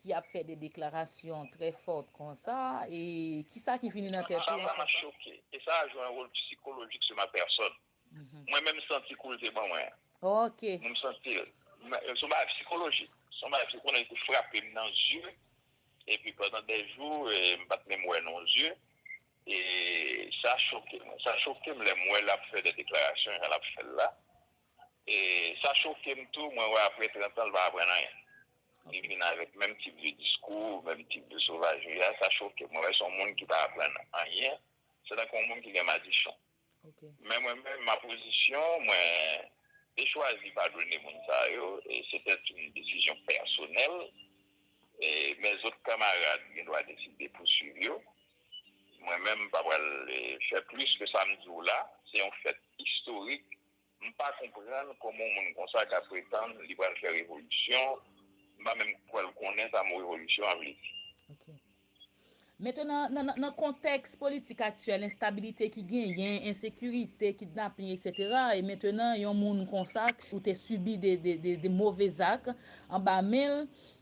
ki ap fè de deklarasyon trè fort konsa e kisa ki vini nan tèt ou an konsa? Sa map choke e sa a jwe yon wol psikolojik sou ma pèsòn. Mwen menm santi kou l te ban mwen. Ok. M santi l. Se yon bagay psikolojik. Se yon bagay psikolojik ki frape m nan zye epi pandan dè jou m pat menm wè non zye e sa choke m. Sa choke m lè m wè l ap fè de deklarasyon jan l ap fè l la. E sa choke m tou, mwen wè apre 30 ans l pa aprann anyen. Li vin avèk menm tip de diskou, menm tip de sovagerie a, sa choke m. Mwen wè se yon moun ki pa aprann anyen, se tankou yon moun ki gen madichon. Men mwen menm, ma position, mwen te chwazi padone moun sa yo, e se tèt yon desizyon pèsonèl, e men zot kanmarad gen dwa deside pouswiv yo. Mwen menm m pa pral fè plis ke sa m di w la, se yon fèt istorik. M pa konprann kòman yon moun konsa ka pretann li pral fè revolisyon, m pa menm kwè l konnen sa mo revolisyon an vle di. Ok. Mete nan nan kontèks politik aktyèl, enstabilite ki genyen, ensekirite, kidnaping etc. E mete nan yon moun konsa ou te sibi de move zak anba men l,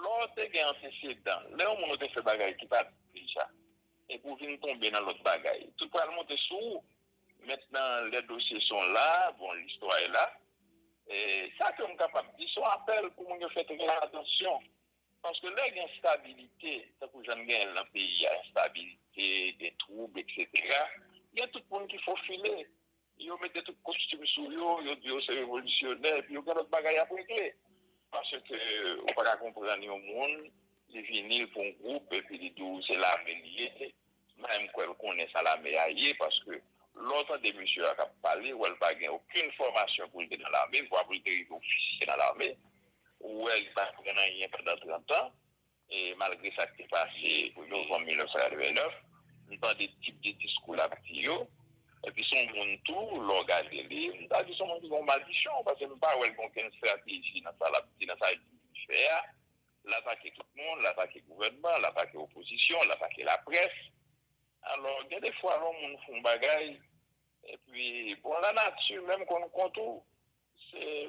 Lè w te gen antesedan, lè yon moun ou te fè bagay ki pa byen deja, epi w vin tonbe nan lòt bagay, tout pral monte sou ou. Mentnan, lè dosye sa w la, bon, listwa e la, sa ke m kapab di, se yon apèl pou moun yo fè trè atansyon. Paske lè gen enstabilite, tankou jan n genyen l nan peyi a, enstabilite, gen twoub, eksetera, gen tout moun ki fofile. Yo mete tout kostim sou yo, yo di yo se revolisyonè epi yo gen lòt bagay y ap regle. Paske ou pa ka konprann yon moun li vini pou yon gwoup epi li di w se lame li ye. M pa menm kwè l konnen sa lame a ye paske lè w tande mesye a k ap pale, ou wè l pa gen okenn fòmasyon pou l te nan lame, vwa pou l te rive ofisye nan lame. Ou wè li pa aprann anyen pandan trantan. E malgre sa k te pase novanm 1989, m tande tip de diskou l ap di yo. Epi s on moun tou, lè w gade li, m ta di s on moun ki gen yon madichon, paske m pa wè l gen okenn estrateji nan sa l ap di, nan sa l di li fè a. L atake tout moun, l atake gouvènman, l atake opozisyon, l atake laprès. Alò, gen de fwa lè yon moun fè yon bagay, epi, bon, lanati menm konn kont ou.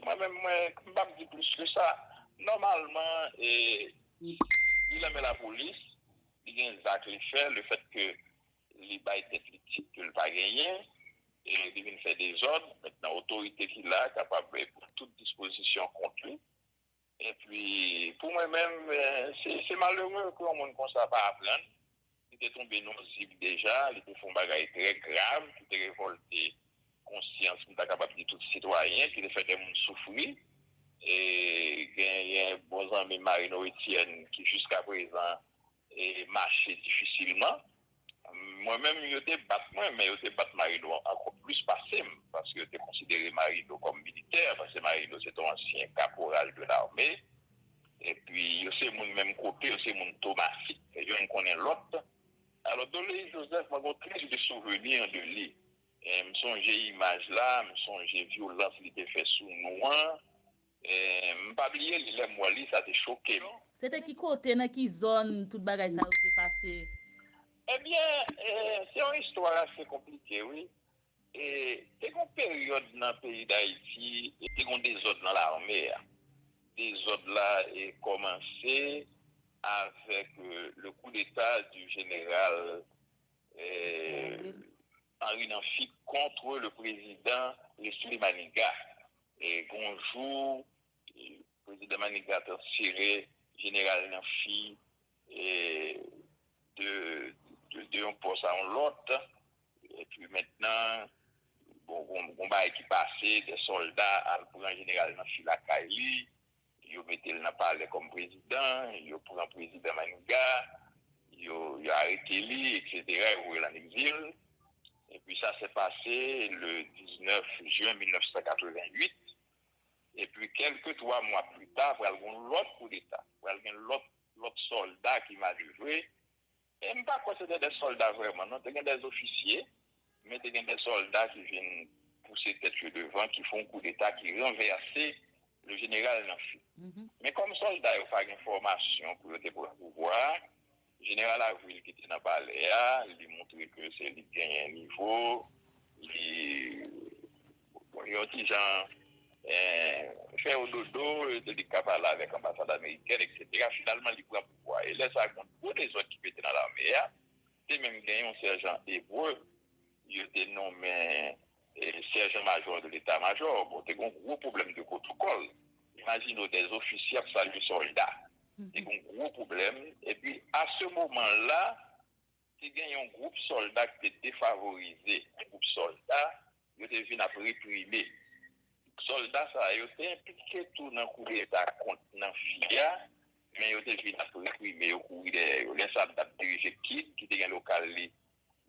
Mwen menm mwen m pap di plis ke sa. Nòmalman li nan men lapolis, li gen zak li fè, le fèt ke li bay tèt li tit ke li pa genyen, li vin fè dezòd, mètnan otorite ki la kapab pran tout dispozisyon kont li. Epi, pou mwen menm, se malere ke yon moun konsa pa aprann. Li te tonbe nan yon zig deja, li te fè yon bagay trè grav ki te revòlte konsyans, m ta kapab di tout sitwayen, ki te fè de moun soufri. E genyen bon zanmi m Marino Etienne ki jiskaprezan, mache difisilman mwen menm yo te bat mwen men yo te bat Marino ankò plis pase m paske yo te konsidere Marino kòm militè paske Marino se te yon ansyen kaporal de lame epi yo se moun menm kote yo se moun Tomasik youn konnen lòt alò Doleyi Jozèf mwen gen yon tris de souveni de li m sonje imaj la m sonje vyolans li te fè sou nou an M pa bliye li lèm wè li sa te chokem. Se te ki kote nan ki zòn tout bagay sa yo te pase? Ebyen se yon istwa ase konplike wi e te gen yon peryòd nan peyi dayiti te gen yon dezòd nan lame a dezòd la kòmanse avèk le koudeta di jeneral. Mari nan fi kontre le prezidan Lesly Maniga e gon jou prezidan Maniga transfere jeneral nan fi de yon pos a yon lot e pi mentnan gon bagay ki pase de solda al pran jeneral nan fi lakay li. Yo mete l nan palè kòm prezidan, yo pran prezidan Maniga, yo arete li, eksetera, yo voye l an egzil. Epi sa se pase le 19 jen 1988. Epi kèlke twa mwa pli ta pral gen yon lòt koudeta, pral gen lòt sòlda ki manevre E m pa kwè se te de sòlda vrèman non, te gen de ofisye, men te gen de sòlda ki vin pouse tèt yo devan, ki fè yon koudeta, ki ranvèse le jeneral nan fi. Men kòm sòlda yo pa gen fòmasyon pou yo te pran pouvwa a, jeneral Avril ki te nan palè a, li montre ke se li ki genyen nivo, li yon ti jan fè yo dodo, se li ki ka pale avèk anbasad amerikèn, eksetera. Finalman li pran. Wa e lè sa gen gwo dezòd ki pete nan lame a, te menm gen yon sèjan ebre yo te nonmen sèjan majò de leta majò, bon te gen yon gwo pwoblèm de pwotokòl, imajine w dè ofisye ap salye sòlda, te gen yon gwo pwoblèm, epi a se moman la Te gen yon gwoup sòlda ki te defavorize, yon gwoup sòlda yo te vin ap reprime. Sòlda sa yo te enplike tou nan koudeta kont Nanfi a, men yo te vin ap reprime yo, kouri dèyè yo. Lè sa a, m t ap dirije KID, ki te gen lokal li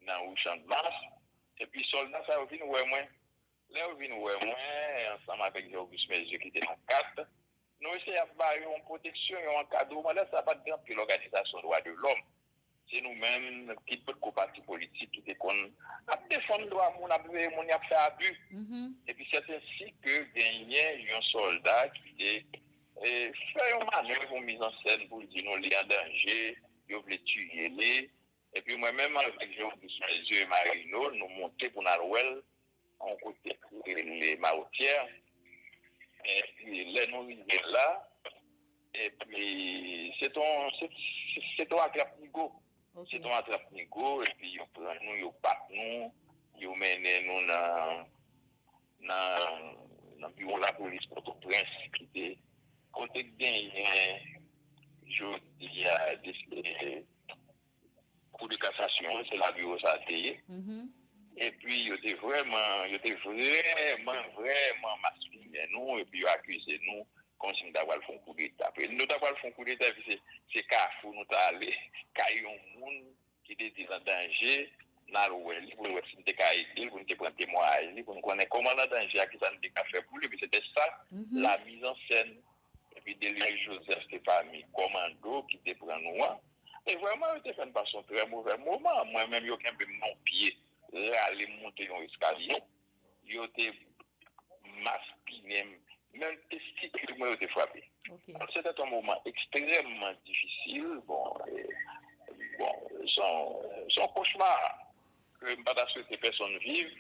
nan rue Chandmas, epi sòlda sa yo vin wè mwen. Lè yo vin wè mwen, ansanm avèk Jè Ogis Mèzye ki te nan kat, Nou eseye ap ba yo yon pwoteksyon, yon ankadreman, lè sa pa t gen anpil òganizasyon dwa de lòm, se nou menm ki potko pati politik ki te konn ap defann dwa moun, ap veye moun y ap fè abi. Epi sètensi ke genyen yon sòlda ki te fè yon manèv, yon mizansen pou l di nou li an danje, yo vle tiye li. Epi mwen menm avèk Jean Auguste Maiseux e Marino nou monte pou n al wè l Yon kote ki rele Mawotyè. Epi lè nou rive la, epi se te yon, se te yon atrap nigo. Se te yon atrap nigo epi yo pran nou, yo bat nou, yo mennen nou nan, nan biwo lapolis Pòtoprens ki te, kote ki genyen jodi a, deske. Kou de kasasyon an se la biwo sa te ye epi yo te vrèman yo te vrèman vrèman maspinen nou epi yo akize nou kòmsi nou ta pral fè yon koudeta epi nou ta pral fè yon koudeta epi se se kafou nou ta ale kay yon moun ki te di l an danje n al wè li pou nou wè si nou te ka ede l pou nou te pran temwayaj li pou nou konnen kòman l an danje a kisa nou te ka fè pou li epi se te sa la mizansen Epi Delius Joseph te pami kòmando ki te pran nou an. E vrèman yo te fè n pase yon trè movè moman. Mwen menm yo kenbe m nan yon pye, rale m moute yon eskalye. Yo te maspinen m, menm testikil mwen yo te frape. Se te yon moman ekstrèmman difisil. Bon, se yon kochma ke m pa ta swete pèsonn viv.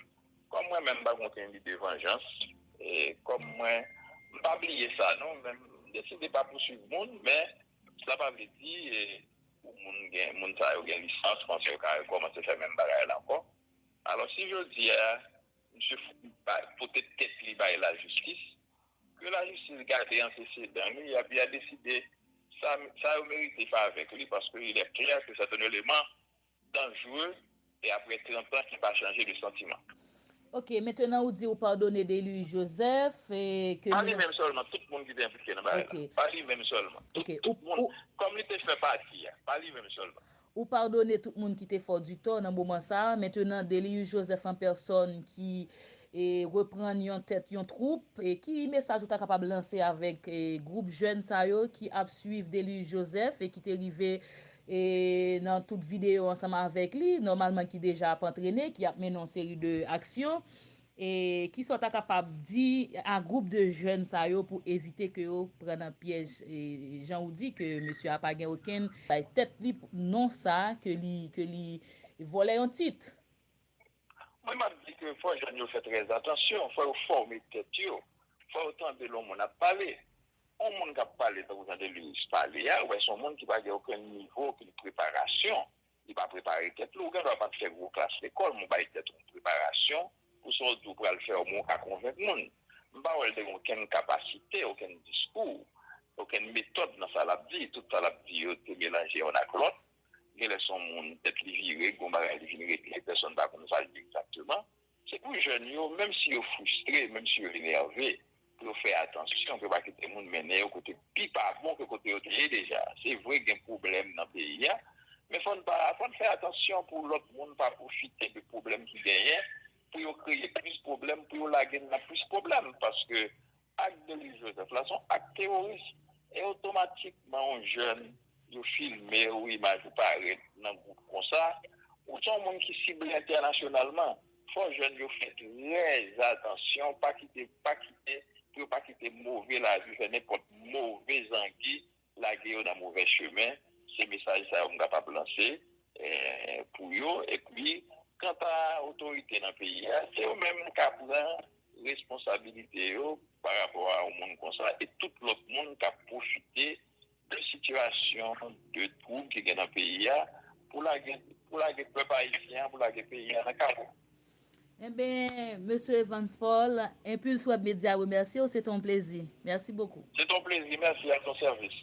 Kòm mwen menm m pa gen okenn lide vanjans e kòm mwen m pa bliye sa non men m deside pa pouswiv moun men sa pa vle di pou moun gen moun sa yo gen lisans konsa yo ka rekòmanse fè menm bagay la ankò alò si jodi a misye pote tèt li bay lajistis ke lajistis gade antesedan li epi ya deside sa yo merite favè pou li paske ilè klè ke sèten eleman Dangereux e apre 30 ans ki pa chanje de sentiment. Ok mentenan ou di ou padone Deiluis Joseph e ke nou nan. Pa li menm selman tout moun ki te enplike nan bagay la. Pa li menm selman tout tout moun kom li te fè pati a. Pa li menm selman. Ou padone tout moun ki te fè w du tò nan moman sa a. Mentenan Deiluis Joseph an pèsòn ki e reprann yon tèt yon twoup e ki mesaj ou ta kapab lanse avek e gwoup jèn sa yo ki ap swiv Deiluis Joseph e ki te rive e nan tout videyo ansanm avèk li, nòmalman ki deja ap antrene, ki ap mennen yon seri de aksyon, e kisa w ta kapab di a gwoup de jèn sa yo pou evite ke yo pran nan pyèj jan ou di ke mesye a pa gen okenn bay tèt li non sa ke li ke li vòlè yon tit? Mwen map di ke fò jèn yo fè trèzatansyon, fò yo fòme tèt yo, fò yo tande lè yon moun ap pale. On moun kap pale tankou jan Delus pale a, ou wè son moun ki pa gen okenn nivo, okenn preparasyon, li pa prepare tèt li, ou gen dwa pat fè gwo klas lekòl, men ou bay tèt ou yon preparasyon pou sa w di w pral fè a, omenw ka konvenk moun. M pa wè l te gen okenn kapasite, okenn diskou, okenn metòd nan sa lap di, tout sa lap di yo te melanje yonn ak lòt, genlè son moun tèt li vire, gon bagay li vin regle, pèsonn pa konn sa l di egzakteman. Se pou jèn yo, menm si yo fristre, menm si yo enève, pou yo fè atansyon, pou yo pa kite moun mennen yo kote pi pa bon ke kote yo te ye deja. Se vre gen pwoblèm nan peyi a, men fò n pa, fò n fè atansyon pou lòt moun pa pwofite de pwoblèm ki genyen, pou yo kreye plis pwoblèm, pou yo lage n nan plis pwoblèm, paske. Ak Denis Joseph la son ak teworis e otomatikman yon jèn yo filmew imaj ou parèt nan gwoup konsa ou son moun ki sible entènasyonalman fò jèn yo fè trèzatansyon pa kite pa kite pou yo pa kite move lavi fè nenpòt move zangi Lage yo nan movè chemen, se mesaj sa yo m kapab lanse pou yo. Epi, kanta otorite nan peyi a, se yo menm k a pran responsabilite yo parapò a yon moun konsa e tout lòt moun k ap pwofite de sitiyasyon de twoub ki gen nan peyi a pou lage pèp ayisyen an, pou lage peyi a nan kawo. Enben, Mesye Evans Paul, Impulse Web Media remèsye w, se te yon plezi. Mèsi bokou. Se te yon plezi, mèsi, a ton sèvis.